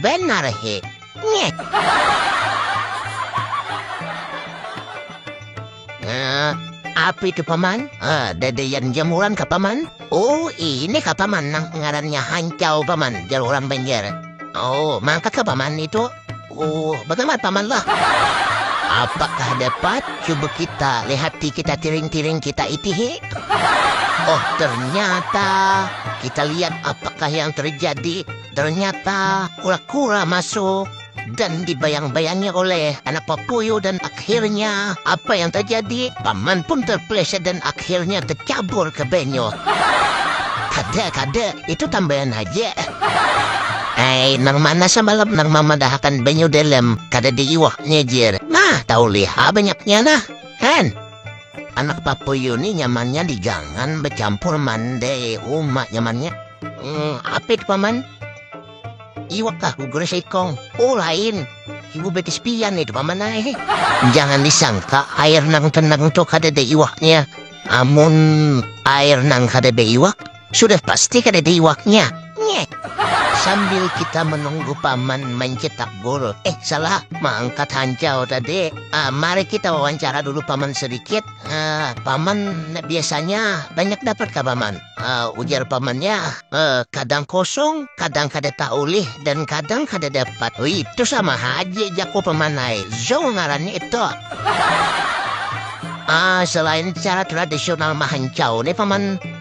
Benar hik. Nyeh. Eh, api ke paman? Ah, dedean jamuran ka paman? Oh, ini ka paman nang ngarannya hancau paman, jar orang Banjar. Oh, mangka ka paman itu? Oh, bagaimana paman lah? Apakah dapat? Coba kita lihati kita tiring-tiring kita itu he. Oh, ternyata kita lihat apakah yang terjadi. Ternyata kura-kura masuk dan dibayang-bayangi oleh anak papuyu dan akhirnya apa yang terjadi? Paman pun terpleset dan akhirnya tercabur ke benyo. Kada, kada, itu tambahan haja. Hei, nang mana samalam nang mamadahakan benyo dalam kada diiwaknya jer. Nah, tahu liha banyaknya nah. Han. Anak papuyu ni nyamannya di gangan becampur mande umak nyamannya. Hmm, apa itu paman? Iwak kah gugur seikong? Oh lain, ibu betis pian itu paman ay. Jangan disangka air nang tenang tuh kada ada iwaknya. Amun air nang kada ada iwak, Sudah pasti kadada iwaknya. Nyeh. Sambil kita menunggu paman mencetak gol. Eh salah, mengangkat hancau tadi. Uh, mari kita wawancara dulu paman sedikit. Uh, paman biasanya banyak dapat ke paman? Uh, ujar pamannya, uh, kadang kosong, kadang kada taulih, dan kadang kada dapat. Oh, itu sama haji jaku paman ay. Zong ngaran itu. Ah, selain cara tradisional mahancau nih paman